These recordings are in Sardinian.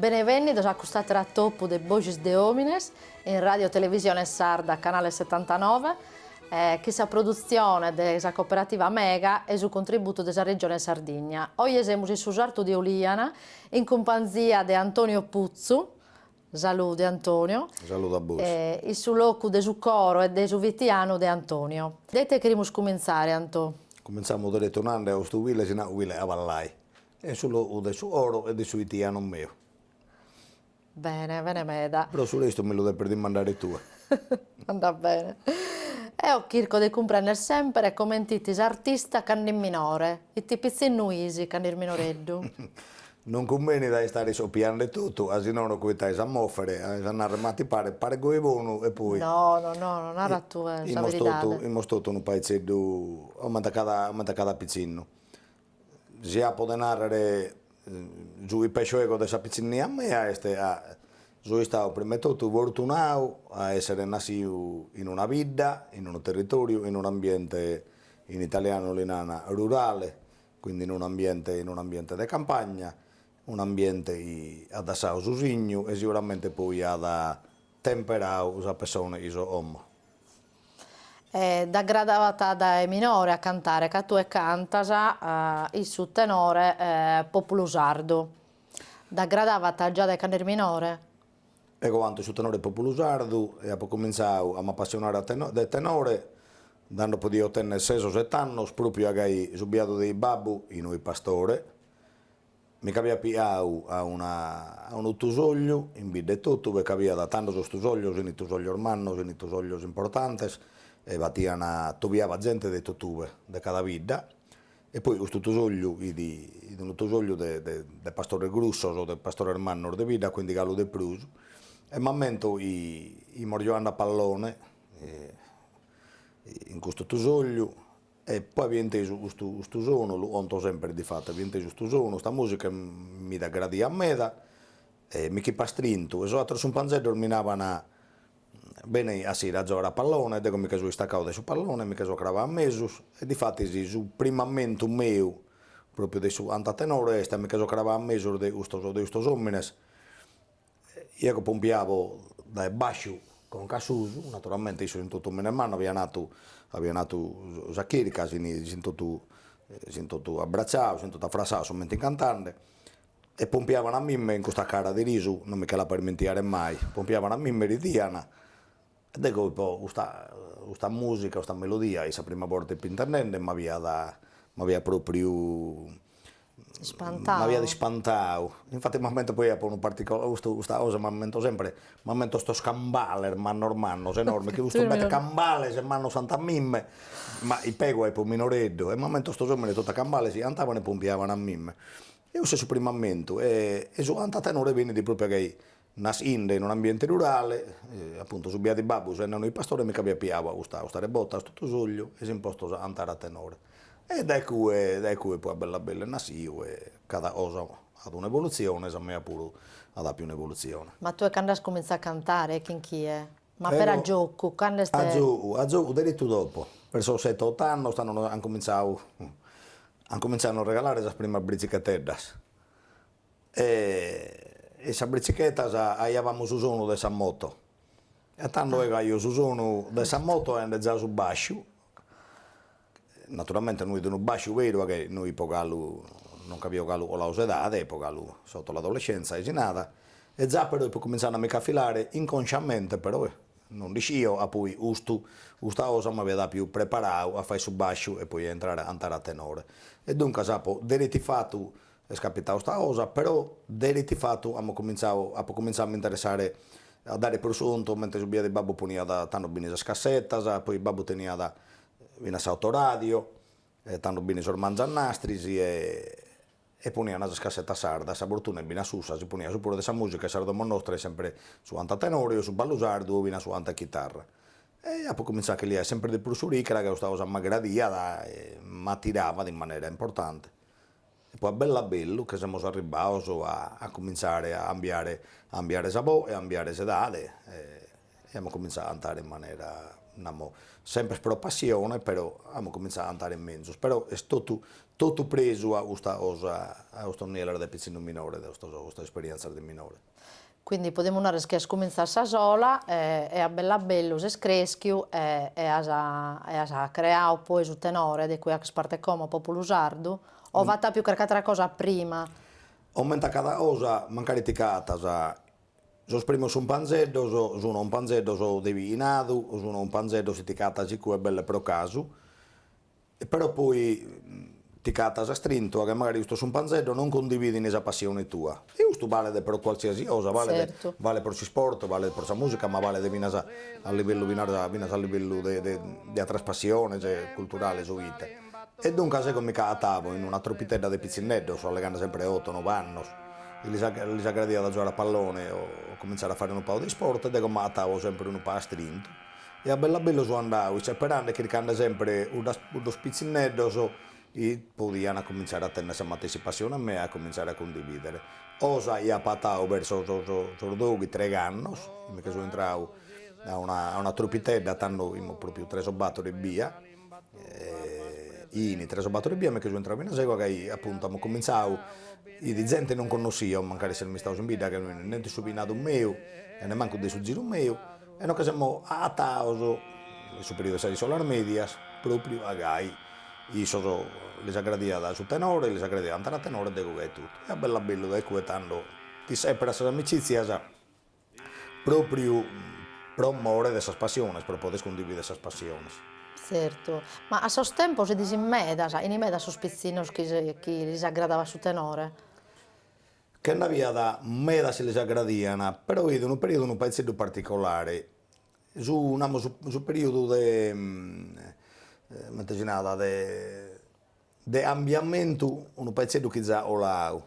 Benevènnidos a cust'àter'atopu de Boghes de Òmines in Ràdio Televisione Sarda canale setantanove chin sa produtzione de sa Cooperativa Mega e su contributu de sa Regione Sardigna. Oje semus in su sartu de Oliana in cumpanzia de Antonio Putzu, Salude Antonio. Salude a bois. In su locu de su coro e de su fitianu de Antonio. De ite cherimus cumintzare Anto? Cumintzamos deretu nande ca custu cuile si nat cuile a pallai est su locu de su coro e de su fitianu meu. Bene, bene meda. Pro su restu mi lu depes dimandare tue. Andat bene. Eo chirco de cumprender sempre comente fit s'artista cando fit minore, ite pitzinnu fis cando fis minoreddu. Non cumbenit a istare iscopiande totu, asinono cuitais a mòfere, ais a nàrrer ma ti paret, paret goi bonu e poi. No, no, no, no nara tue sa beridade. Fimos totu unu paitzeddu, comente cada, comente cada pitzinnu. Si apo de narrer su chi pesso ego de sa pitzinnia mea est ca so istadu prima 'e totu fortunadu a esser nassidu in una bidda, in unu territoriu, in un'ambiente, in italianu li nana rurale, Quindi in un'ambiente in un'ambiente de campagna, un'ambiente chi at dassadu su signu e siguramente poi at temperadu sa pessone chi so como. E t'aggradavat dae minore a cantare ca tue cantas in su tenore Populu Sardu. T'aggradavat già dae cand'est minore? Ego canto in su tenore Populu Sardu e apo comintzadu a m'apassionare de tenore tando podio tenner ses o sete annos, pròpiu a gai su biadu de babbu, chi non fit pastore, mi ch'abiat piadu a una a unu tusògliu in bidda etotu, ca ch'abiat tando sos tusòglios, fin tusòglios mannos, fin tusòglios importantes, e batian, atobiabat zente de totue, de cada bidda, E poi custu tusògliu chi fit, fit unu tusògliu de de pastores grussos o de pastores mannos de bidda, quindi galu de prus, e m'ammento chi fimos giogande a pallone in custu tusògliu e poi avia intesu custu custu sonu, lu conto sempre difattu, avia intesu custu sonu, custa musica e mi fit aggradida meda e mi ch'ipo astrintu e sos ateros cumpanzeddos mi naban Beni a sighire a giogare a pallone, deo mi che so istaccadu de su pallone, mi che so cravadu a mesus, e difatis su primu ammentu meu, propriu de su cantu a tenore, est ca mi che so cravadu a mesus de custos de custos omines, eo chi pompiavo dae basciu conca a susu, naturalmente issos fin totu omines mannos avian fatu avian fatu sa chirca, si fin totu si fin totu abbracciados, si fin totu affrassados, su mentre fin cantande, E pompiavan a mimme in custa cara de risu, non mi che l'apo a ismentiare mai, pompiavan a mimme e ridian, e dego poi custa custa musica, custa melodia, fit sa prima borta ipo intendende m'aviat m'aviat propriu ispantadu m'aviat ispantadu, infati m'ammento poi apo unu particolare, custu custa cosa m'ammento sempre, m'ammento sos cambales mannos mannos enormes, chi custos bette cambales mannos antu a mimme, ma ipo ego ipo minoreddu, e m'ammento custos òmines totu a cambales antavan e pompiavan a mimme E ussu est su primu ammentu e e su cantu a tenore benit propria ca nassinde in un ambiente rurale appuntu su biadu 'e babbu sende unu pastore mi ch'aviat piau a custa custa rebota a 'stu tusorgiu e s'in postos a antare a tenore e dae cue dae cue poi a bellu a bellu est nassiu e cada cosa at una evoluzione sa mea puru at apiu una evoluzione. Ma tue cand'as cumintzau a cantare e chin chie? Ma però a giocu, cando est. A giogu, a giogu deretu dopo, per sos sete oto annos, tando nos an comintzadu, an comintzadu a nos regalare sas primas britzicheteddas e in sas britzichettas aiabamus su sonu de sa moto e tando eo aio su sonu de sa moto aende zai su basciu, Naturalmente no fit unu bàsciu beru ca no ipo galu, non ch'aio galu coladu s'edade, ipo galu sotto l'adolescenza e si narat, e zai però ipo cumintzande a mi ch'afilare inconsciamente però, non nd'ischio, a poi custu, custa cosa m'aviat apiu preparadu a fai su bàsciu e poi a intrare a antare a tenore. E duncas apo deretu ifatu Est capitau sta cosa, però deretu ifatu amu cumintzau, apu cumintzau a m'interessare, a dare prus contu, mentres su biadu 'e babbu poniat, tando b'ini sas cassetas, poi babbu teniat finas s'autoradio, e tando b'ini sos mangianastris, e poniana sas cassetas sardas, a fortuna e finas ussa si poniat su prus de sa musica 'e sa domo nostra, sempre su antu a tenore o su ballu sardu o finas su antu a chitarra. E apu cumintzau a che liai sempre de prus s'uricra ca custa cosa m'aggradiat e m'attiravat in manera importante. E poi a bellu a bellu che semus arribbados a cumintzare a ambiare a ambiare sa boe e a ambiare s'edade e amus cumintzadu a antare in manera, namo, sempre pro passione però amus cumintzadu a antare menzus, però est totu totu presu a custa cosa, a custos nielos de pitzinnu minore, de custos custas esperienzias de minore. Quindi podemus narrer chi as cumintzadu a sa sola e a bellu a bellu ses creschiu e as creadu poi su tenore de cui aches parte como, Populu Sardu, o b'at apiu carchi atra cosa prima? Omente cada cosa mancari t'acatas, sos primos umpanzeddos, sun umpanzeddos de biinadu, sun umpanzeddos chi t'acatas incue belle pro casu, E però poi ti c'atas astrintu a che magari custos cumpanzeddos non condividini sa passioni tua. E custu balet pro cualsiasi cosa, balet balet pro s'isport, balet pro sa musica, ma balet finas a a livellu finas a finas a livellu de de de atras passiones culturales o ite. E duncas ego mi c'aatavo in una truppitedda de pitzindeddos allegande sempre de otto nove annos chi lis lis agradiat a giogare a pallone o comintzare a fare unu pagu de isport ed ego m'aatavo sempre unu pagu astrintu. E a bellu a bellu so andadu isseperande e chircande sempre cuddas cuddos pitzinneddos chi podian comintzare a tennere sa matessi passione mea e comintzare a cundividere. Cosa chi apo atadu verso sos sos doghi treigh'annos, mi che so intradu a una a una truppitedda tando fimus propriu tres o battor ebbia, in tres o bator ebbia mi che so intrau finas ego gai apuntu amus cominzau e fit zente chi non connossio mancari esseren istaus in bidda nen de su bichinadu meu e nemancu de su ziru meu e nos che semus aataus in su periudu 'e sas iscolas medias propriu a gai issos lis aggradiat su tenore lis aggradiat andare a tenore ed ego gai totu e a bellu a bellu da icue tando ti seperas sas amicizias Pròpriu pro more de sas passiones, pro poder cundividere sas passiones. Tzertu, ma a sos tempos fitis in medas, fin medas sos pitzinnos chi chi lis aggradava su tenore. Che nd'aviat medas chi lis aggradian, però fit unu periodu unu paitzeddu particolare, su namus su periodu de comente si narat de de cambiamentu unu paitzeddu chi za coladu,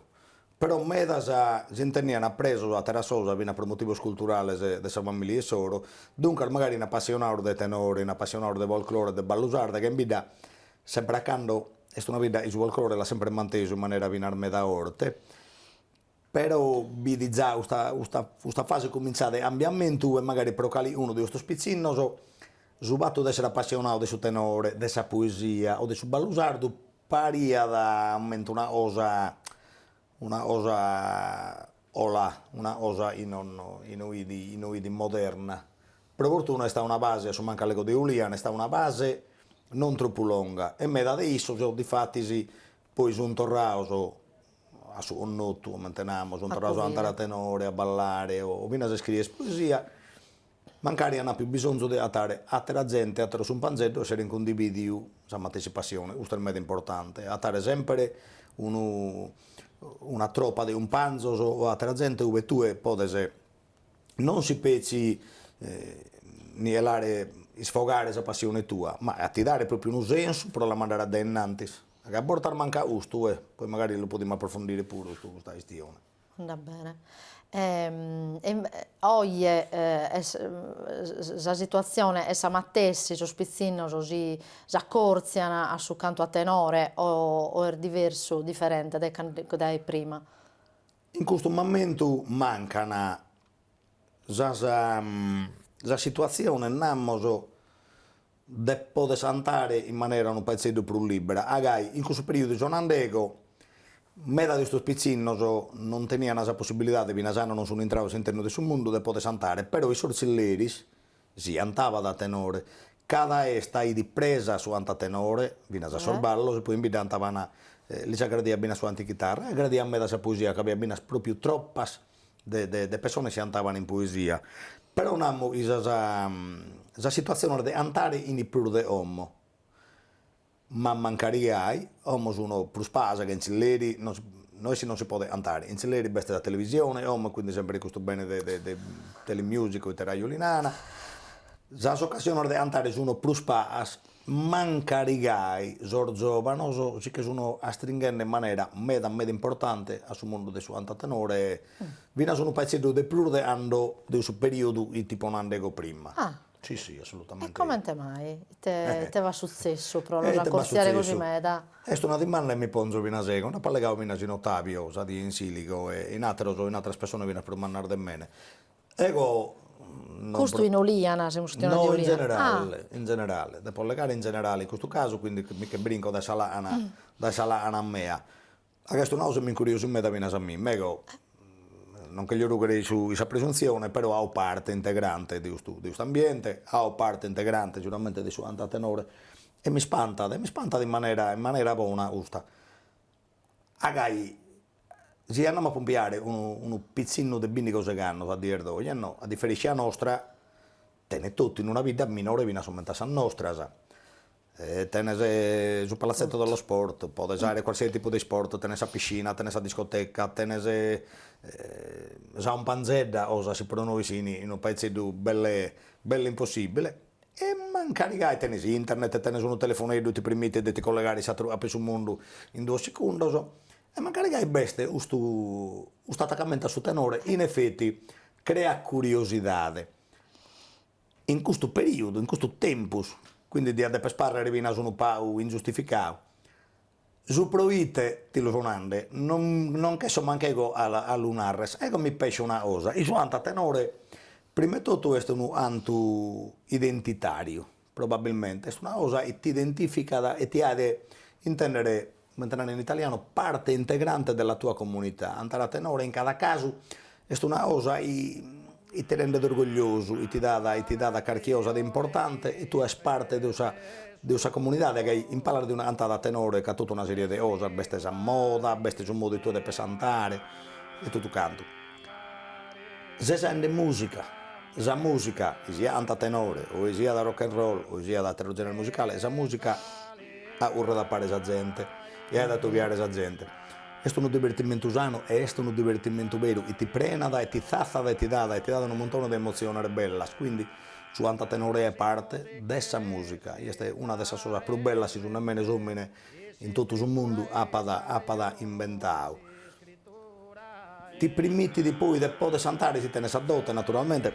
però medas si intenian appresos a atteras cosas finas pro motivos culturales de sa familia issoro, duncas magari fin appassionados de tenore, fin appassionados de folklore e de ballu sardu ca in bidda sempre e cando est una bidda chi su folklore l'at sempre mantesu in manera finas meda forte. Però bi fit za custa custa custa fase cumintzada 'e cambiamentu e magari pro calicunu de custos pitzinnos su fatu de essere apassionadu de su tenore, de sa poesia o de su ballu sardu pariat m'ammento una cosa una cosa colà, una cosa chi no fit chi no fit moderna. Pro fortuna est istada una fase, a su mancus allego de Uliana, est istada una fase non tropu longa e meda de issos difatis poi sun torrados a su connotu, comente namus, sunt torrados a andare a tenore, a ballare o finas a iscriere poesia, mancari an apiu bisonzu de atare atera zente, ateros cumpanzeddos chi esseren cundividiu sa matessi passione, custu est meda importante, atare sempre unu una tropa de cumpanzos o atera zente ue tue podes non si petzi nielare, isfogare sa passione tua, ma a ti dare propriu unu sensu pro la mandare a dae innantis. A che a bortas mancat custu, e poi magari lu podimus aprofondire puru custu, custa chistione. Andat bene. Oje sa situatzione est sa matessi, sos pitzinnos si s'acòrtzian a su cantu a tenore o o est diversu, diferente de dae prima? In custu momentu mancan sas sas situatziones namus de poder antare in manera unu paezzeddu prus libbera, a gai in cussu periodu chi so nand'ego meda de custos pitzinnos non tenian sa possibilidade finas a no non sun intrados a s'internu de su mundu de poder antare, però in sos zilleris si antabat a tenore, cada festa fit presa su antu a tenore finas a sos ballos e poi in bidda antabana, lis agradiat finas su antu a chitarra e agradiat meda sa poesia ca b'aiat finas propriu tropas de de de pessones chi antaban in poesia, però namos chi sas sas situaziones de antare fin prus de como, ma mancari gai, como sun prus pagas ca in zilleri, no no est chi non si podet antare, in zilleri b'est sa televisione como e quindi sempre custu bene de de de Telemusica o ite raju li nana, sas occasiones de antare sun prus pagas Mancarigai sos zovanos si che sun astringhende in manera meda meda importante a su mundu de su cantu a tenore e finas unu paizeddu de prus de cando de su periodu chi t'ipo nande ego prima. Ah. Si si assolutamente. E comente mai ite ite b'at sutzessu pro los accortziare così meda? Est una dimanda chi mi ponzo finas ego, nd'apo allegadu finas chin Otavio sa die in Siligo e chin ateros chin ateras pessonas finas prus mannas de mene. Ego non pro. Custu in Oliana, semus chistionande de Oliana. No, in generale, in generale, depo allegare in generale in custu casu, quindi mi che brinco dae sa làcana, dae sa làcana mea. A custu namus m'incuriosit meda finas a mie, ma ego non cherjo rugher in sa presuntzione, però faco parte integrante de custu de custu ambiente, faco parte integrante seguramente de su antu a tenore e m'ispantat, m'ispantat in manera in manera bona custa A gai si andamus a pumpiare unu unu pitzinnu de bindighi o seigh'annos a dies d'oje no, a diferèntzia nostra, tenet totu in una bidda minore finas comente a sas nostras, e tenes su palazzetto dello sport, podes aer qualsiasi tipu de isport, tenes sa piscina, tenes sa discoteca, tenes sa 'ompanzedda cosas chi pro nois fin unu paezzeddu belle belle impossibile E mancari gai tenes internet e tenes unu telefoneddu ti permitet de ti collegare a s'ateru capu 'e su mundu in duos secundos, e mancari gai b'est custu custu atacamentu a su tenore, in effetti creat curiosidade. In custu periudu, in custus tempus, quindi diat deper parrer finas unu pagu ingiustificadu Su proite ti lu so nande, non non nch'esso mancu ego a a lu narrer, ego mi pescio una cosa, chi su antu a tenore prima 'e totu est unu antu identitariu, probabilmente est una cosa chi t'identificat e ti aet intendere, comente narent in italianu, parte integrante della tua comunità, antare a tenore in cada casu Est una cosa chi ti rendet orgogliosu, chi ti dat chi ti dat carchi cosa de importante e tue aes parte de sa de sa comunidade ca in palas de una cantada a tenore ch'at totu una serie de cosas, b'est sa moda, b'est su modu tuo de pesantare e totu cantu. Ses aende musica, sa musica chi siat cantu a tenore o chi siat rock and roll o chi siat ateru genere musicale, sa musica aurret a pare sa zente e aet atobiare sa zente Est unu divertimentu sanu e est unu divertimentu beru chi ti prenat e ti tzatzat e ti dat e ti dat unu montone de emotziones bellas, quindi su antu a tenore est parte de sa musica, chi est una de sas cosas prus bellas chi s'omine s'omine in totu su mundu apat apat imbentadu. Ti permittit poi de poder antare si tenes sa dote naturalmente,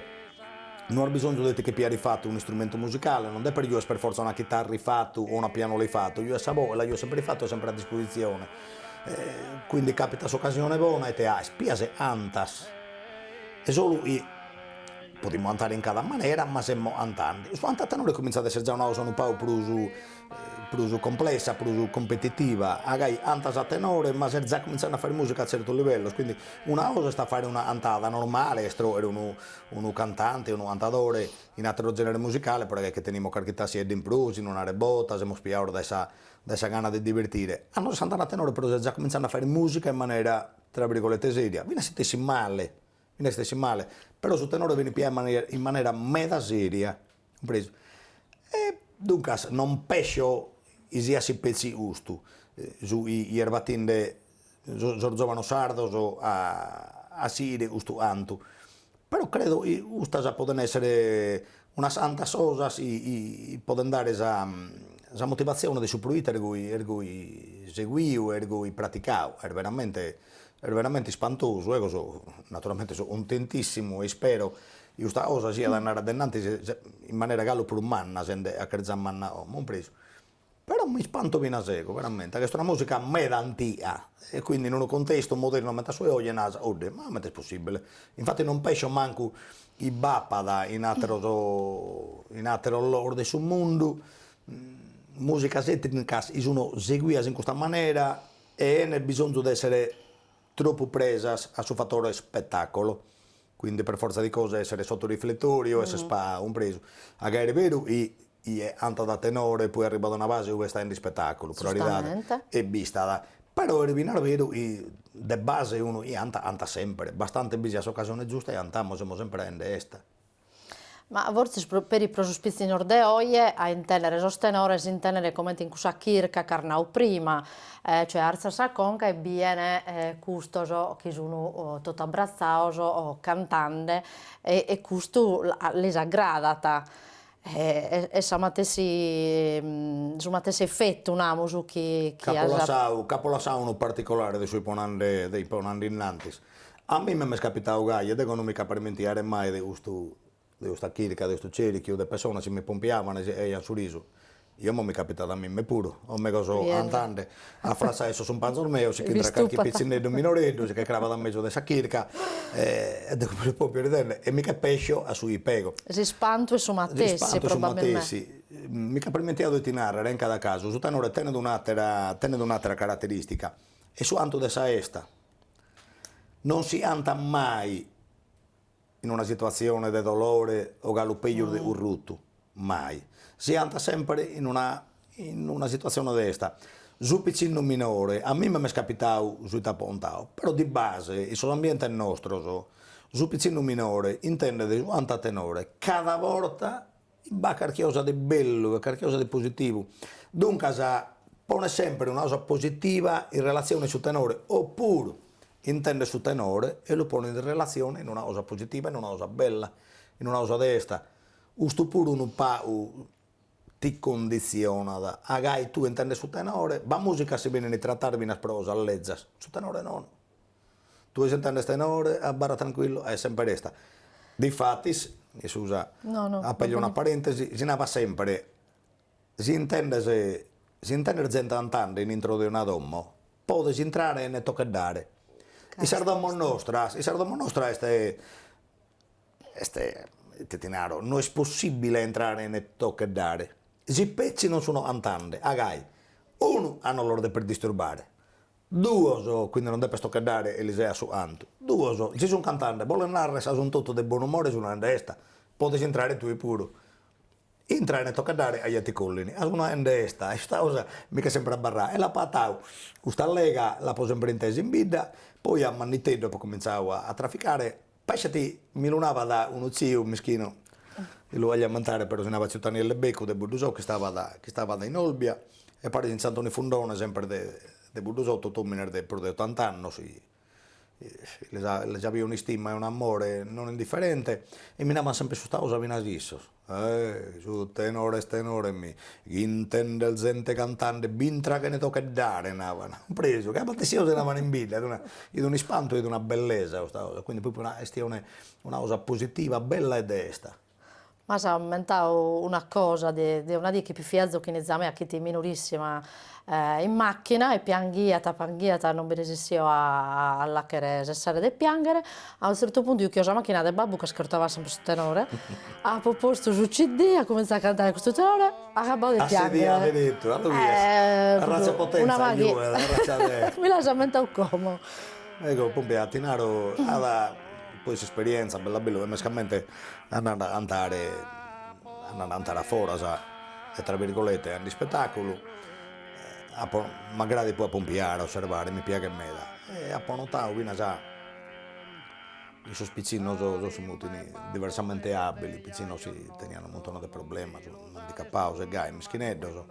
non as bisonzu de ti che piare ifatu unu istrumentu musicale, non depes giuere per fortza una chitarra ifatu o una pianola ifatu, giues sa boe, la giues semper ifatu e semper a dispositzione. Quindi capitat s'ocasione bona e te ais pias e antas. E solu i. Podimus antare in cada manera ma semus antende. Su antu a tenore comintzat a esser già una cosa unu pagu prus prus complessa, prus competitiva. Agai antas a tenore ma ses già comintzende a fagher musica a tzertos livellos, quindi una cosa est a fagher una antada normale, est tròghere unu unu cantante, unu antadore in ateros generes musicales, però agai chi tenimus carchi tassiedda in prus, in una rebota, semus piados dae sa dae sa gana de divertire, ando ses antande a tenore però ses già comintzende a faghere musica in manera tra virgolette seria, finas si t'essit male, finas si t'essit male, però su tenore benit piau in manera meda seria, cumpresu. E duncas non pescio chi siat si petzi custu su chi est batinde sos zovanos sardos a sighire custu cantu, però credo chi custas podent essere unas antas cosas chi podent dare sa motivatzione de su proite est est goi seghiu est goi praticadu, est veramente est veramente ispantosu, eo so naturalmente so contentissimu e ispero chi custa cosa siat a andare a de in antis in manera galu prus manna sende chi est già manna como compresu Però mi ispanto finas ego, veramente, ca est una musica meda antiga, e quindi in unu contestu modernu comente a su 'e oje naras, oje, ma comente est possibile? Infati non pescio mancu chi b'apat in ateros in ateros logos de su mundu musicas etnicas chi sun seguidas in custa manera 'ene bisonzu de essere troppu presas a su fattore spettacolo. Quindi per forza di cose essere sotto riflettori o essere spa cumpresu. A gai est beru i ie antat a tenore e poi arribat a una fase ue est aende ispetaculu, pro aridade e bi istat. Però est finas beru i de base unu i antat antat sempre, bastante bi siat s'occasione giusta e antamus, semus sempre aende esta. Ma fortzis peri pro sos pitzinnos de oje, a intendere sos tenores, intendere comente in cussa chirca ch'as nau prima, cioè artzan sa conca e bien custos chi sun totu abbrazzados cantende e custu lis agradat est sa matessi su matessi effettu namus chi chi. Ch'apo lassau unu particolare de su chi de chi ipo nande innantis, A mimma m'est capitau gai e dego no mi ch'apo a irmentiare mai de custu de custa chirca de custu cerichiu de pessonas chi mi pompiavana e si e ian su risu e omo mi capitat a mimma puru o megus cantande a frassai sos umpanzos meos si ch'intrat carchi pitzinneddu minoreddu si che cravat a mesu de sa chirca e e deu mi lu pompio ridende e mi che pesso a su i ipo ego. S'ispantu est su matessi probabilmente. Mi ch'apo irmentiau ite narrer in cada casu su tenore tenet un'attera tenet un'attera caratteristica est su antu de sa 'esta non si antat mai in una situatzione de dolore o galu peju de currutu, mai, si antat sempre in una in una situatzione de esta. Su piccinnu minore, a mimma m'est capitau su i t'apo ontau, però di base in sos ambientes nostros su piccinnu minore, intendet su antu a tenore, cada borta b'at carchi cosa de bellu e carchi cosa de positivu, duncas ponet semper una cosa positiva in relatzione a su tenore o puru intendet su tenore e lu ponet in relatzione in una cosa positiva, in una cosa bella, in una cosa de esta, custu puru unu pagu ti conditzionat, a gai tue intendes su tenore, b'at musica chi benit tratada finas pro osas lezzas, su tenore non Tue si intendes tenore, abarra trancuillu, est semper esta. Difatis, in su sa, aperio una parentesi, si narat sempre, si intendes, si intendes zente antande in intro de una domo, podes intrare ene tocheddare. In sas domos nostras, in sas domos nostras est, est, ite ti naro, no est possibile a intrare ene tocheddare, si petzi non sun antande a gai, unu a no los deper disturbare, Duos, quindi non depes tocheddare e lis seas su antu. Duos, si sun cantande, bolet narrer a sun totu de bonu umore sun aende esta, podes intrare tue puru. Intrare ene tocheddare, ja t'acollini, a sun aende esta, usta osa mi ch'est sempre abarrau e l'apo atau custa allega, l'apo sempre intesa in bidda, poi a manniteddu apo comintzau a traficare, Pasciat mi lu navat unu tziu mischinu, chi lu olia ammentare però si navat tziu Tanielle Beccu de Buddusou chi istavat chi istavat in Olbia e paris chin tziu Antoni Fundone sempre de de Buddusou totu omines de prus de ottant'annos chi lis avia un'istima e un'amore non indifferente e mi navan sempre custa cosa finas issos Eh, su tenore est tenore mi ch'intender zente cantande b'intra chene tocheddare navan presu che abatessianu si navan in bidda it un'ispantu it una bellesa custa cosa quindi propriu est una una cosa positiva bella e de esta. M'as ammentadu una cosa de de una die chi fit viazu chin fiza mea chi fit minorissima in machina e pianghiat pianghiat non bi resessio a l'acher sessare de pianghere a un zerto puntu juchio sa machina de babbu ch'ascurtavat sempre su tenore apo postu su CD at cumentzau a cantare custu tenore at agabbau de pianghere a sedia de tentu a ddoe bides a ratza 'e potenza chi juguet a racia de mi l'as ammentau como eco pòmpia ti naro at poi s'esperienza bella bella mescamente andant a cantare andant a cantare a foras e tra birgolette a nd'ispetaculu a m'agradat poi a pompiare a osservare mi piaghet meda e apo notadu finas in sos pitzinnos sos chi mutin diversamente abbili pitzinnos chi tenian unu muntone de problemas no handicappados e gai mischineddos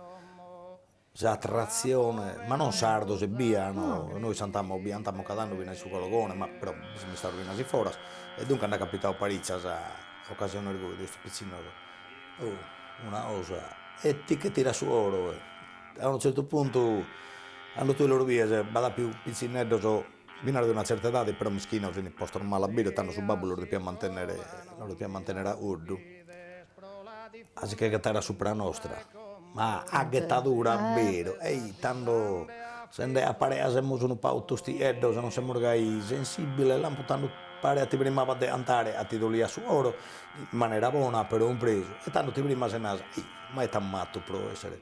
S'attratzione, ma non sardos ebbia, no, nois cantamus bi cantamus cada annu fin'a su Cologone, ma però bi semus istados finas in foras, e duncas nd'at capitadu paritzas ocasiones gosi de custos pitzinnos, oh una 'osa, e ti che tirat su oro, a unu zertu puntu cando tue los bies b'at pius pitzinneddos Finas de una tzerta edade però mischinos fin po sos mala bidda tando su babbu los depiat mantenere los depiat mantenere a oddu a si che ghetare a supra nostra ma a ghetadura a beru e i tando sende a parea semus unu pagu tostieddos non semus gai sensibile lampu tando parea ti frimabas de cantare ca ti doliat su coro in manera bona però impresu e tando ti frimas e naras ei ma it'amus fattu pro essere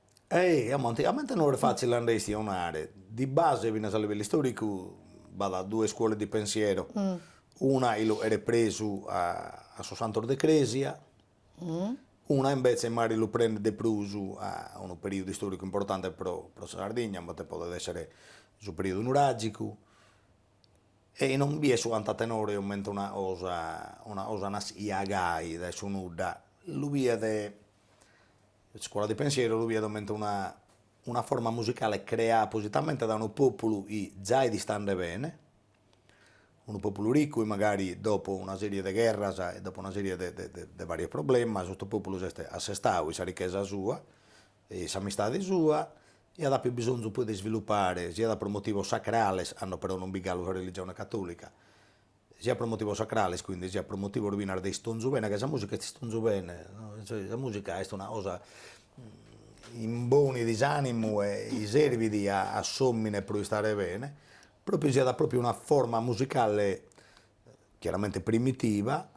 Ehi, como anticamente non est fatzile a nde istionare, di base finas a livellu istoricu b'at duas iscuolas di pensiero, una chi lu cheret presu a a sos cantos de cresia, una imbetze magari lu prendet de prus a unu periudu istoricu importante pro pro sa Sardigna, comente podet essere su periudu nuragicu, chi non biet su cantu a tenore comente una cosa una cosa nascia gai dae su nudda, lu biet Scuola di Pensiero lu biet comente una una forma musicale creada appositamente da unu pòpulu chi za fit istande bene, unu pòpulu riccu chi magari dopo una sèrie de gherras e dopo una sèrie de de de varios problemas custu pòpulu s'est assestadu in sa richesa sua e in s'amistade sua e at appiu bisonzu poi de isvilupare siat pro motivos sacrales cando però non bi fit galu sa religione catòlica sia pro motivos sacrales quindi sia pro motivos finas de istonzu bene, ca sa musica est istonzu bene, sa musica est una cosa imbonit s'animu e i servit a a s'omine pro istare bene, propriu siat propriu una forma musicale chiaramente primitiva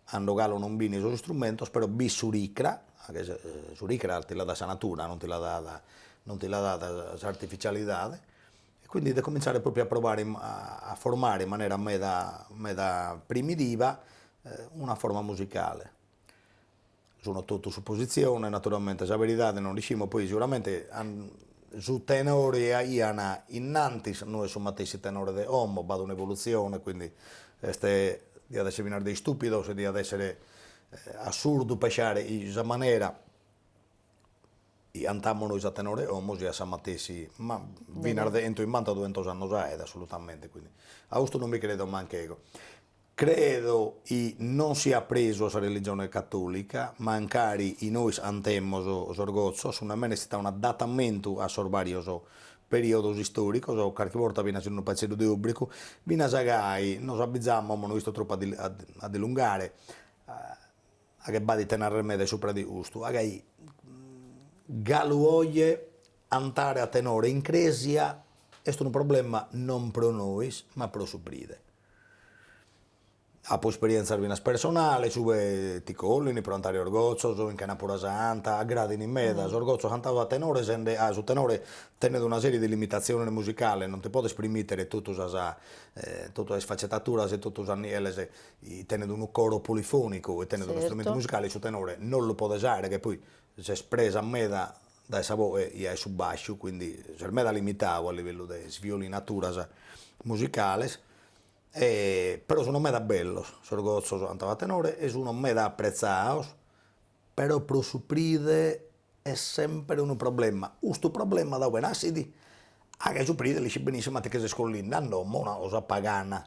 ando galu non b'ini sos istrumentos, però b'est s'uricra, s'uricra ti la dat sa natura, non ti la dat non ti la dat s'artificialidade, e quindi de comintzare propriu a provare a formare in manera meda meda primitiva una forma musicale Sunt totu supositziones, naturalmente sa beridade non l'iscimus, poi seguramente su tenore chi aian innantis no est su matessi tenore de como, b'at un'evolutzione, quindi est diat esser finas de istupidos e diat esser assurdu pesciare chi sa manera chi cantamus nois a tenore 'e como siat sa matessi, ma finas de 'entu 'imbanta duentos annos aet assolutamente, quindi a custu non mi credo manch'ego Credo chi non siat presu a sa religione catòlica, mancari chi nois antemos sos gotzos, segundu mene est istadu un'adatamentu a sos bàrios perìodos istòricos, carchi borta finas in unu paitzeddu de òbricu, finas gai nos abizamus, amus no isto tropu a di a dilungare, a che b'at ite narrer meda subra de custu, a gai galu oje antare a tenore in crèsia est unu problema non pro nois ma pro su pride. Apo isperientzas finas personales, ue ti collin pro antare sos gotzos, in chenapura santa, aggradin meda, sos gotzos antados a tenore sende a su tenore tenet una serie de limitatziones musicales, non ti podes primmitere totu sas totu sas isfacetaturas e totu sas nieles, tenet unu coro polifonicu e tenet un'istrumentu musicale, su tenore non lu podes aere ca poi ses presu meda dae sa boe e dae su bàsciu, quindi ses meda limitadu a livellu de isviolinaturas musicales, e però sun meda bellos sos gotzos antados a tenore e sun meda apprezzados, però pro su pride est sempre unu problema, custu problema da ue nascit? Ah ca su pride l'iscit benissimo ca ti che ses collende a domo, una cosa pagana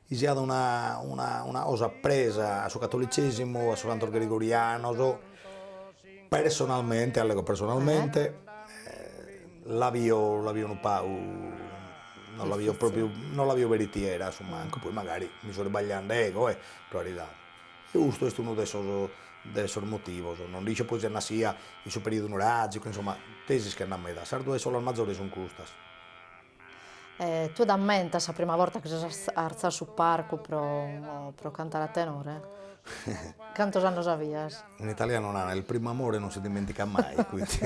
chi siat una una una cosa presa a su catolitzesimu, a sos cantos gregorianos, personalmente, allego personalmente, la bio la bio unu pagu, non la bio propriu, non la bio beritiera a su mancu, poi mancari mi so irbagliende ego e, pro caridade, e custu est unu de sos de sos motivos, non nd'isco poi si est nascia in su periodu nuragicu, insomma, tesis che nd'at meda, sas duas iscolas mazores sun custas E tue t'ammentas sa prima borta chi ses artzadu su parcu pro pro cantare a tenore? Cantos annos avias? In italianu narant, il primo amore non si dimentica mai, quindi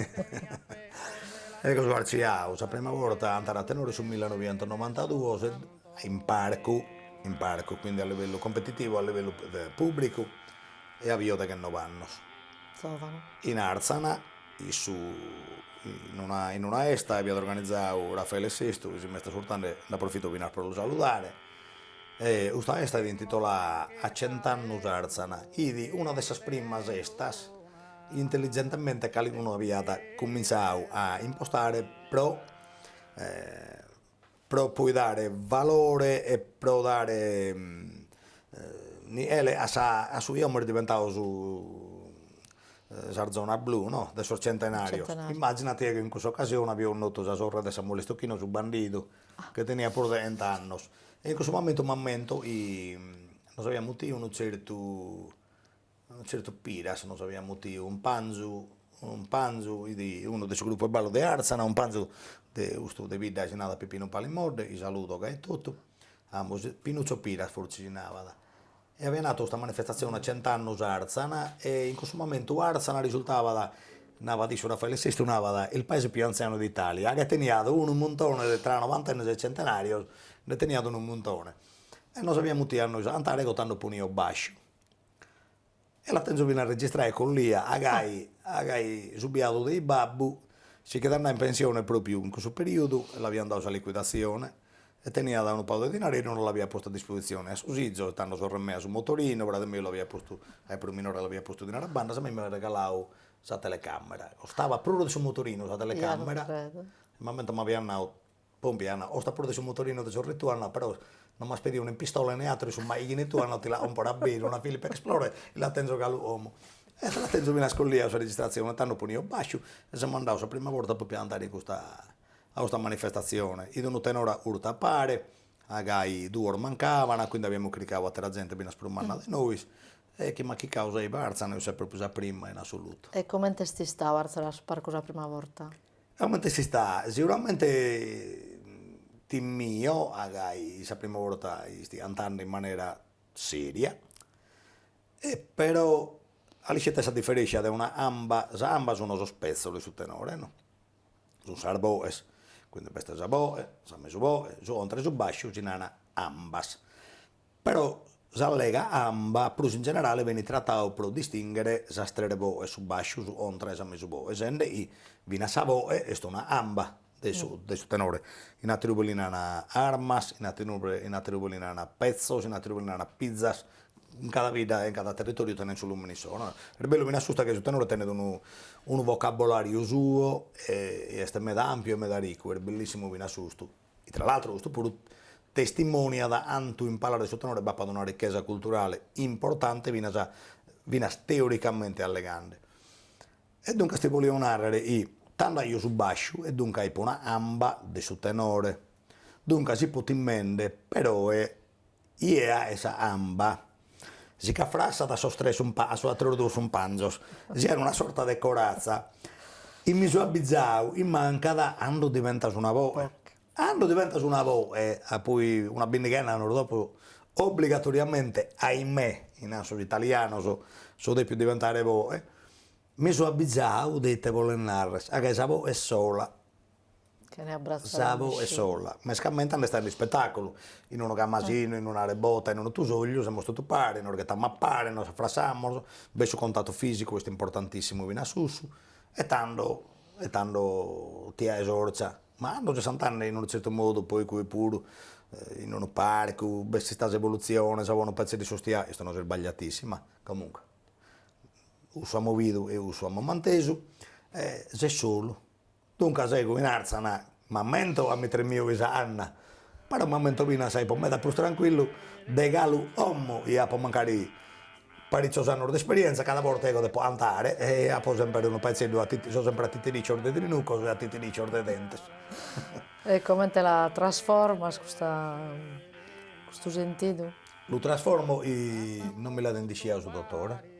eo so artziadu sa prima borta a antare a tenore su millenovientonovantaduos e in parcu in parcu quindi a livellu competitivu a livellu pubblicu e avio deghennobe annos. Zovanu. In Arzana Issu in una in una 'esta aiat organizadu Raffaele Sestu chi si m'est asurtande, nd'aprofito finas pro lu saludare, e custa 'esta fit intitolada a cent'annus Arzana, fit una de sas primas 'estas chi intelligentemente calicunu aiat cumintzadu a impostare pro pro poi dare valore e pro dare nichele a sa a su chi como est diventadu su sa zona blu no de sos centenarios, immaginati chi in cussa occasione avio connotu sa sorre de Samuele Stocchino su bandidu chi teniat puru chent'annos e in cussu momentu m'ammento chi nos aviat mutiu unu zertu Zertu Piras nos aviat mutiu unu cumpanzu, unu cumpanzu chi fit, unu de su grupu 'e ballu de Àrzana, unu cumpanzu de custu de bidda chi si narat Pipinu Palimodde, chi saludo ca etotu, ambos, Pinuccio Piras fortzis si narat, e avian 'atu custa manifestatzione a cent'annus Àrzana e in cussu momentu Àrzana risultabat, narat issu Raffaele Sestu narat, il paese più anziano d'Italia, ca teniat unu muntone de tra novantennos e centenarios, nde teniat unu muntone e nos aviat mutiu a nois a antare eo tando ponio basciu E la tenzo fina registrada e collia, agai agai su biadu de babbu si ch'it andau in pensione propriu in cussu periodu e l'avian dadu sa liquidazione e teniat unu pagu de dinareddu no l'aviat postu a disposizione a sos 'izos, tando a sorre mea su motorinu, frade meu l'aviat postu, ca fit prus minore l'aviat postu dinare a bandas, a mei m'aiat regalau sa telecamera, costavat prus de su motorinu sa telecamera, m'ammento m'aviat nau Pompia, nat, costat prus de su motorinu de sorre tua, nat, però no m'as pediu nen pistola ne atru in su machighine tua, no, ti la comporo a beru, una Philips Explorer, e la tenzo galu como. E la tenzo finas collia sa registratzione, tando ponio basciu, e semus andaos sa prima borta pro cantare custa, a custa manifestatzione, fit unu tenore curtu a pare, agai duos mancavana, quindi aviamus chircau atera zente finas prus manna de nois, e chi m'at chircau sei Barzan, eo seu propriu sa prima in assolutu. E comente est istau artzare a su parcu sa prima borta? Comente s'istat? Seguramente timio agai sa prima borta istio antande in manera seria e però a l'ischis ite est sa diferescia de una amba, sas ambas sun sos pezzos de su tenore no, sun sas boes, quindi b'est sa boe, sa mesu boe, su contra e su basciu si naran ambas Però s'allega amba prus in generale benit tratadu pro distinghere sas tres boes, su basciu, sa contra e sa mesu boe, sende chi finas sa boe est una amba de su de su tenore. In àteru lugu li nana armas, in àteru in àteru lugu li nana petzos, in àteru lugu li nana pizzas, in cada bidda e in cada territòriu tenet su lùmene issoro, no. Est bellu finas custa chi su tenore tenet unu unu vocabolàriu suo e est meda àmpiu e meda ricu, est bellissimu finas custu. Tra l'altro custu puru testimoniat cantu in palas de su tenore b'apat una richesa culturale importante finas finas teoricamente allegande. E duncas ti bolio narrer chi tando aio su basciu e duncas fipo una amba de su tenore. Duncas fipo timende però e Iea 'e sa amba. Si ch'affrassat a sos tres sun a sos atteros duos cumpanzos, si at una sorta de corazza. E mi so abbizau chi mancat cando diventas una boe. Cando diventas una boe, a poi una bindighena 'e annos dopo obbligatoriamente, ahimè, chi nant sos italianos, so depiu diventare boe. Mi so abbizau de ite bolet narrer, ca sa boe est sola. Sa boe est sola, mescamente cando est in ispetàculu, in unu camasinu, in una rebota, in unu tusògliu, semus totu pare, nos ghetamus a pare, nos affrassamus, b'est su contatu fìsicu, est importantissimu finas cussu, e tando e tando ti faes fortza, ma cando ses cantande in unu zertu modu poi cui puru in unu parcu, b'est istada s'evoluzione, sa boe unu petzeddu s'iscostiat, custu no est sbagliatissimu, comunque, cussu amus bidu e cussu amus mantesu, e ses solu Duncas ego in Àrtzana m'ammento ca mi tremio chei sa canna, però m'ammento finas ca fipo meda prus tranquillu de galu como chi apo mancari paritzos annus de isperientza, cada borta ego depo andare e apo semper unu petzeddu a so semper a titiricios de trinucos e a titiricios de dentes. E comente la trasformas custa custu sentidu? Lu trasformo chi non mi l'at indisciau su dotore.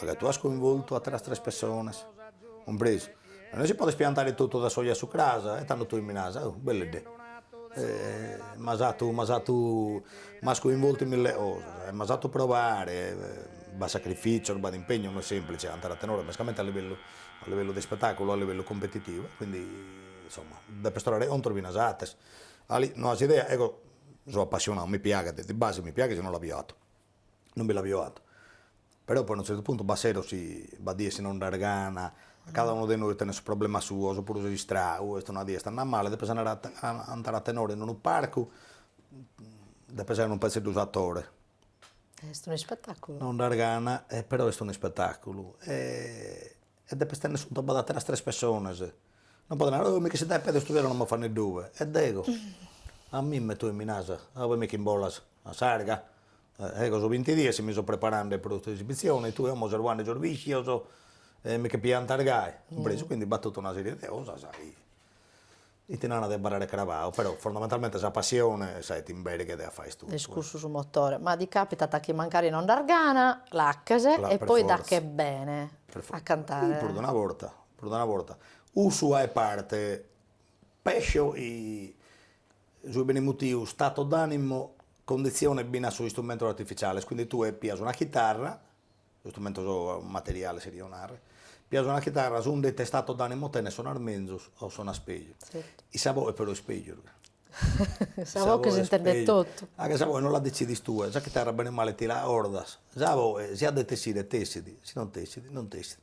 Ca tue as coinvoltu ateras tres pessonas, cumpresu. Ma no si podet piantare totu dae s'oje a su cras e tando tue mi naras, oh, belleddè, m'as fatu, m'as fatu, m'as coinvoltu in mille cosas e m'as fatu probare, b'at sacrifìtzios, b'at impegnu, no est semplice cantare a tenore, mescamente a livellu, a livellu de ispetàculu, a livellu competitivu, e quindi, insomma, depes torrare contos finas a ateras. Ali, no as idea, eo so appassionadu, mi piaghet, de base mi piaghet si no l'aio fatu. non bi l'aio fatu, però poi a unu tzertu puntu b'at seros, b'at dies chi no nd'as gana, cada unu de nois tenet su problema suo, opuru ses istracu, est una die est andada male, depes andare a cantare a tenore in unu parcu, depes esser unu petzeddu s'atore. Est un'ispetaculu. Non nd'as gana e però est un'ispetaculu E depes tenner contu b'at ateras tres pessonas. Non podes narrer, oh, mi chistit a pedi custu sero, non m'at fanni due. E deo, a mimme tue mi naras, oh, poi mi ch'imbolas a s'arga? Ego so binti dies chi mi so preparende pro custa esibitzione e tue como ses bocande sos viscios e mi che piantas gai. Cumpresu, quindi b'at totu una serie de cosas chi E ti nana de abarrare crabau, però fondamentalmente sa passione est sa chi t'imberghet a acher custu. Est cussu su motore, ma ti capitat chi mancari non nd'as gana, l'aches e poi t'achet bene a cantare. Prus de una borta, prus de una borta, cussu achet parte, pesso su chi benit mutiu, stato d'animo, condizionat finas sos istrumentos artificiales, quindi tue pias una chitarra istrumentos materiales cherio narrer, pias una chitarra segundu ite stato d'animo tenes sonas menzus o sonas peju in sa voce però est pejus in sa voce s'intendet totu anche sa voce non la decidis tue sa chitarra bene o male ti l'acordas sa voce si at de t'essire t'essit si non t'essit non t'essit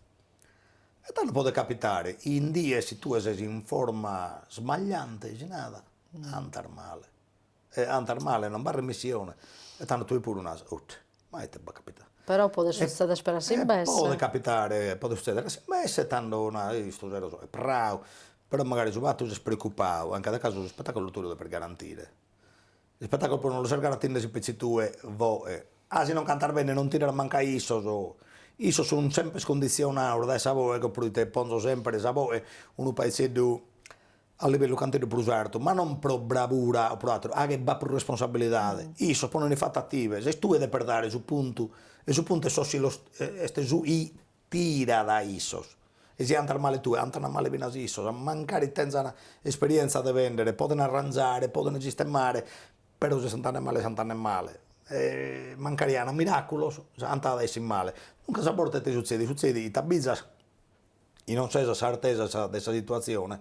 e tando podet capitare in dies chi tue ses in forma smagliante si narat andas male e andas male non b'at remissione, e tando tue puru naras, ut, ma ite b'at capitadu. Però podet suzzeder a s'imbesse. Podet capitare, podet suzzeder a s'imbesse, tando naras, ih custu sero so prau, però magari su fattu chi ses preoccupadu, in cada casu su spettaculu tue lu depes garantire, s'ispettaculu puru non lu ses garantende si petzi tue boe, ah si non cantas bene non tiran mancu issos, issos sun sempre condizionados dae sa boe ecco pro ite ponzo sempre sa boe unu paezzeddu a livellu canteddu prus artu, ma non pro bravura o pro àteru, ca b'at prus responsabilidade, issos ponent fatu a tive, ses tue depes dare su puntu e su puntu est sos chi los est su chi tirat a issos e si andas male tue andant male finas issos, mancari tentzan esperièntzia de bèndere, podent arranzare, podent sistemare, però si s'andat male s'andat male e mancari achent miràculos andant matessi male, duncas a bortas ite sutzedit, sutzedit chi t'abizas chi non ses a s'artesa de sa situatzione,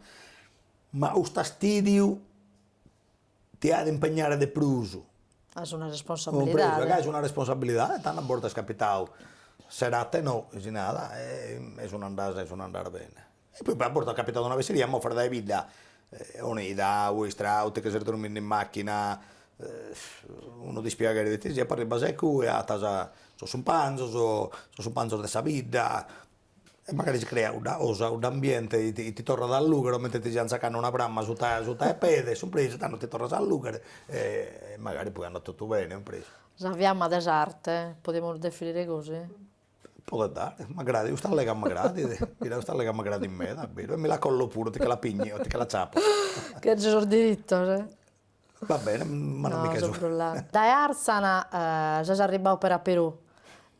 ma custu fastìdiu ti achet impegnare de prus. As una responsabilidade. Ca as una responsabilidade, tando a bortas est capitadu, serate no, chi si narat, e sun andas e sun andas bene. E poi a bortas at capitadu una fesseria, moves dae bidda, sonnidu e istracu, chi ses dromminde in macchina, unu dispiaghere de ite siat, poi arribbas a cue acatas sos cumpanzos, sos cumpanzos de sa bidda, e magari si creat cudda cosa, cuddu ambiente e ti torrat a allughere comente ti siant sacande una pramma suta 'e pede, cumpresu, tando ti torras a allughere e magari poi andat totu bene cumpresu. Sa fiamma de s'arte, podimus definire gosi? Podet dare, m'agradit, custa lega m'agradit, chida custa lega m'agradit meda, e mi la collo puru, ti che la pinnigo, ti che l'acciappo. Cherzo sos diritos Va bene, ma non mi che so. Dae Arzana ses arribbadu peri a Perù,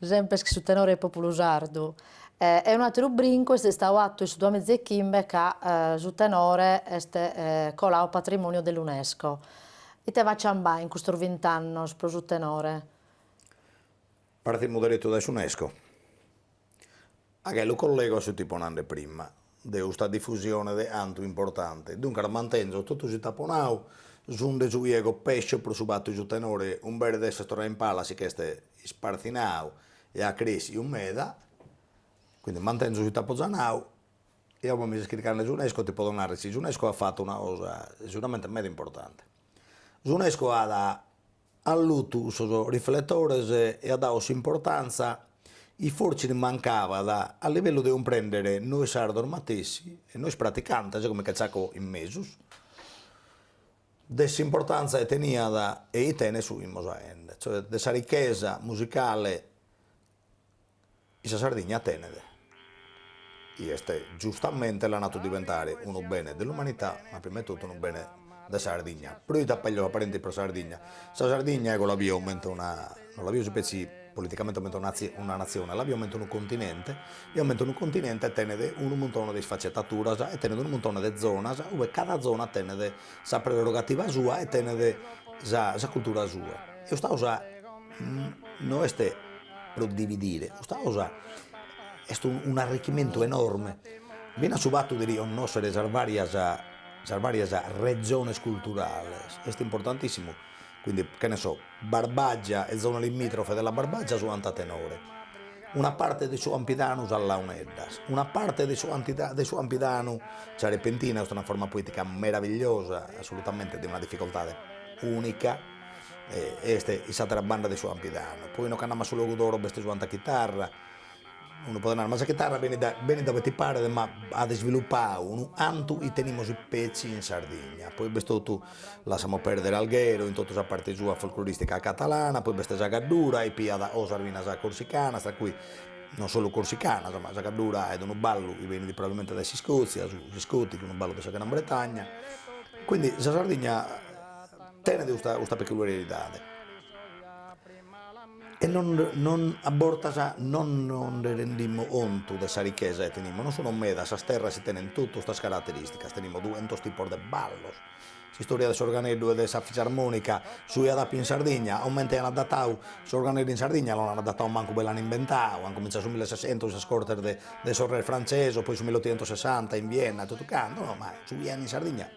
sempes chin su tenore 'e populu sardu. E unu atteru brincu est istadu attu in su duamiza e chimbe ca su tenore est colau patrimoniu de l'Unesco. Ite b'at giambau in custos vint'annos pro su tenore? Partimus derettu dae s'Unesco. Anche lu collego a su chi fipo nande prima, de usta difusione de antu importante, duncas mantenzo totu su chi t'apo nau sicunde su chi ego pesso pro su fattu su tenore imbetze de esser torrau in palas si ch'est ispartzinau e at cressiu meda, quindi mantenzo su chi t'apo za nau e a ue mi ses chircande s'Unesco ti podo narrer chi s'Unesco at fattu una cosa seguramente meda importante, s'Unesco at At allutu sos rifletores e at dadu s'importantza chi fortzis li mancabat a livellu de cumprèndere nois sardos matessi e nois praticantes, ca mi nche tzaco in mesu, de s'importantza chi teniat e chi tenet su chi imos aende, cioè de sa richesa musicale. Chi sa Sardigna tenet, chi est giustamente, l'an atu diventare unu bene de l'umanità, ma prima 'e totu unu bene de sa Sardigna, però t'apèrgio parèntesi pro sa Sardigna. Sa Sardigna ego la bio comente una, non la bio si petzi politicamente comente una una natzione, la bio comente unu continente, bio comente unu continente e tenet unu muntone de isfaccetaturas e tenet unu muntone de zonas, ue cada zona tenet sa prerrogativa sua e tenet sa sa cultura sua Custa cosa no est pro dividire, custa cosa est un'arrichimentu enorme, finas su fatu de riconnòschere sas vàrias sas vàrias rezones culturales est importantissimu, quindi che ne so Barbagia e zone limitrofe de la Barbagia su cantu a tenore, una parte de su Campidanu sas Launeddas, una parte de su de su Campidanu sa Repentina, est una forma poetica meravigliosa assolutamente de una difficoltade unica est in s'atera banda de su Campidanu, poi no ch'andamus a su Logudoro b'est su cantu a chitarra, unu podet narrer, ma sa chitarra benit da benit da ue ti paret, ma at isvilupadu unu cantu chi tenimus petzi in Sardigna, poi b'est totu, lassamus perdere Alghero, in totu sa parte sua folcloristica catalana, poi b'est sa Caddura e piat o sas minas corsicanas, tra cui non solu corsicanas, ma sa Caddura est unu ballu chi benit probabilmente dae s'Iscozia, su Scottis, unu ballu de sa Gran Bretagna, quindi sa Sardigna Tenet custa custa peculiaridade e non non a bortas non nos nde rendimus contu de sa richesa chi tenimus, non sun medas sas terras chi tenent totu custas caraterìsticas, tenimus duentos tipos de ballos, s'istoria de s'organeddu e de sa fisarmònica su chi at appidu in Sardigna, comente an adatadu s'organeddu in Sardigna non an adatadu mancu ue l'an imbentadu, an cumintzadu su millesessentos in sas cortes de de sos res frantzesos, poi su mill'otixentosessanta in Vienna e totu cantu, no ma su chi 'enit in Sardigna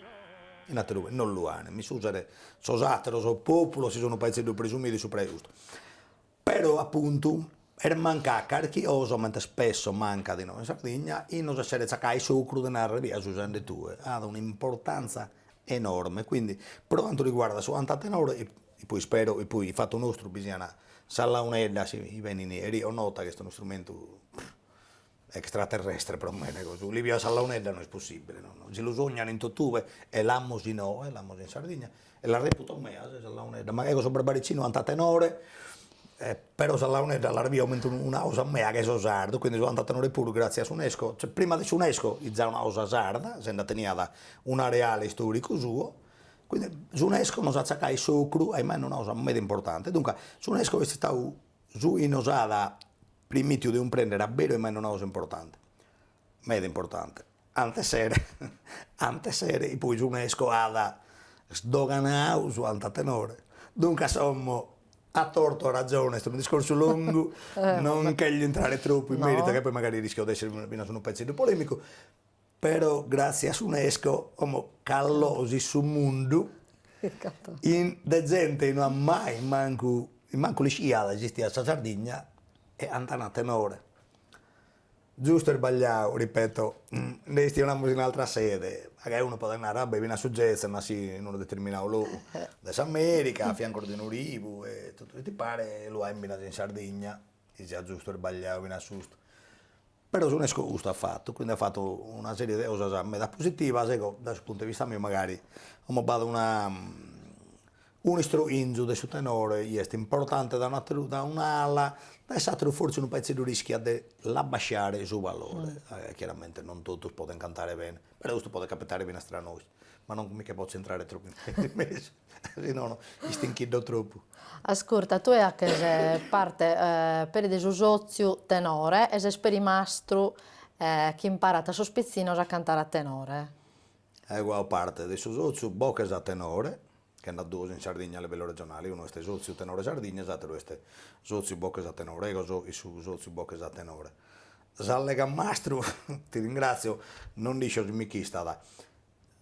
In aterue no lu an, m'iscusen sos ateros populos, si so unu paizeddu presumidu e supra 'e custu. Pero, apuntu, est mancada carchi cosa, comente spesso mancat inoghe in Sardigna, chi nos esseret tzacau s'ocru de narrer chi su chi ses hachende tue at una importanza enorme, quindi, pro cantu riguardat su cantu a tenore, e poi ispero chi poi fatu nostru bi sian sas launeddas chi benini riconnotas chi est unu istrumentu extraterrestre pro mene cussu, Liviu a sa launedda no est possibile, no no, si lu sognan in totue e l'amus innoe, l'amus in Sardigna e la reputo mea sa launedda, ma eo so barbaricinu, canto a tenore e però sa launedda la reputo comente una cosa mea ca so sardu, quindi su cantu a tenore puru gratzias a s'Unesco, cioè prima de s'Unesco fit una cosa sarda, senda teniat un'areale istoricu suo, quindi s'Unesco nos at tzacadu s'ocru chi imus hachende una cosa meda importante, duncas s'Unesco est istadu Su chi nos at primìtiu de cumprender a beru chi imus hachende una cosa importante, meda importante, ant essere ant essere e poi s'Unesco at sdoganau su cantu a tenore, duncas como a tortu a raggione est unu discorsu longu non nch'elio intrare tropu in meritu ca poi magari rischio de essere finas unu paizeddu polemicu Però gràtzias a s'Unesco como ch'at locos in su mundu in de zente chi no at mai mancu mancu l'ischiat chi esistiat sa Sardigna e cantana a tenore. Giustu o isbagliadu, ripeto, nde chistionamus in altra sede, magari unu podet narrer, va bè, finas su jazz est naschiu in unu determinadu logu de s'America, a fiancu de unu rivu e totu su chi ti paret lu hachen finas in Sardigna chi siat giustu o isbagliadu finas custu. Però s'Unesco custu at fatu, quindi at fatu una serie de cosas meda positivas, ego dae su puntu 'e vista meu magari como b'at una unu istroinzu de su tenore chi est importante dae un'ateru dae un'ala, dae s'ateru forsis unu paizeddu rischiat de l'abbasciare su valore, chiaramente non totus podent cantare bene, però custu podet capitare finas tra nois, ma non mi che potzo intrare tropu in mesu Si no no istinchiddo tropu. Ascurta, tue haches parte peri de su sotziu tenore e ses peri mastru chi imparat a sos pitzinnos a cantare a tenore. Ego haco parte de su sotziu Boches a tenore, che nd'at duos in Sardigna a livellu regionale, unu est Sotziu Tenore Sardigna e s'ateru est Sotziu Boches a tenore, ego so in su Sotziu Boches a tenore. S'allega mastru, ti ringratzio, non nd'iscio si mi chistat.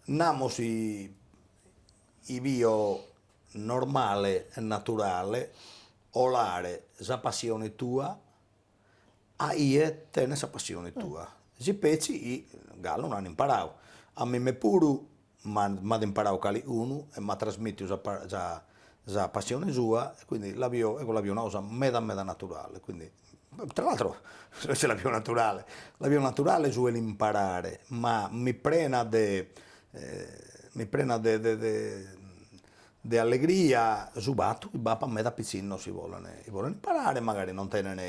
Namos chi chi bio normale e naturale colare sa passione tua a chie tenet sa passione tua, si petzi chi galu no an imparadu, a mime puru m'at imparadu calicunu e m'at trasmittidu sa sa sa passione sua e quindi la bio ego la bio una cosa meda meda naturale, quindi Tra l'altro isse l'at pius naturale, l'at pius naturale su 'e l'imparare, ma mi prenat de mi prenat de de de de allegria su fattu chi b'appat meda pizzinnos chi bolen chi bolen imparare, magari non tenen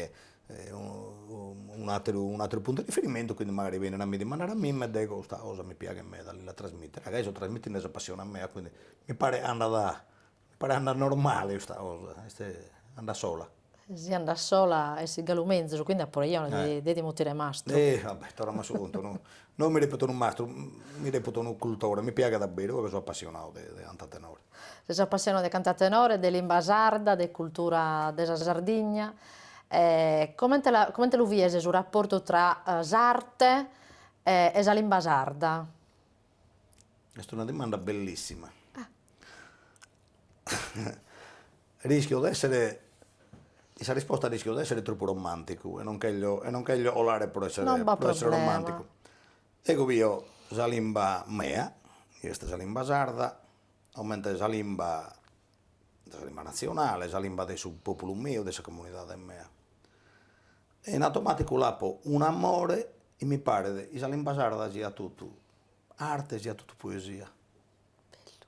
un'atteru un'atteru puntu 'e riferimentu e quindi magari benen a mi dimandare a mimme e deo custa cosa mi piaghet meda a lilla trasmittere, ca eo so trasmittende sa passione mea, quindi mi paret andat Paret andat normale custa cosa, est, andat sola. Si andat sola est galu menzus, quindi apo a nàrrere eo chi mi dian mutire mastru. Eh va bè, torramus a su puntu, no, no mi reputo unu mastru, mi reputo unu cultore, mi piaghet a beru, eo so apassionadu de de cantu a tenore. Ses apassionadu de cantu a tenore, de limba sarda, de cultura de sa Sardigna, e comente la comente lu vies su rapportu tra s'arte e sa limba sarda? est una dimanda bellissima rischio de essere, in sa risposta rischio de essere troppu romanticu e non cherzo e non cherzo colare pro essere pro essere romanticu, ego bio sa limba mea chi est sa limba sarda comente sa limba sa limba nazzionale, sa limba de su populu meu, de sa comunidade mea E in automàticu l'apo un'amore chi mi paret chi sa limba sarda siat totu arte, siat totu poesia. Bellu.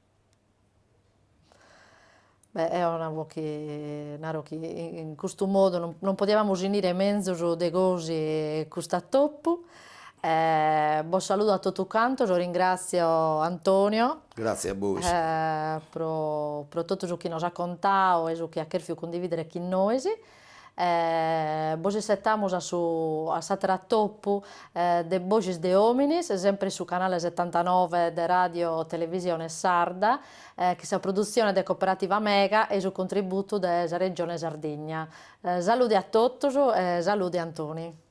Beh eo apo chi naro chi in custu modu non non podiamus finire menzus de gosi cust'atopu e bos saludo a totu cantos, ringratzio Antonio Gratzie a bois pro pro totu su chi nos at contadu e su chi at chèrfiu cundividere chin nois E bos issetamus a su a s'ateru atopu de Boghes de Òmines, sempre in su canale setantanove de Radio Televisione Sarda, chin sa produtzione de Cooperativa Mega e su contributu de sa Regione Sardigna. Salude a totus e salude Antoni.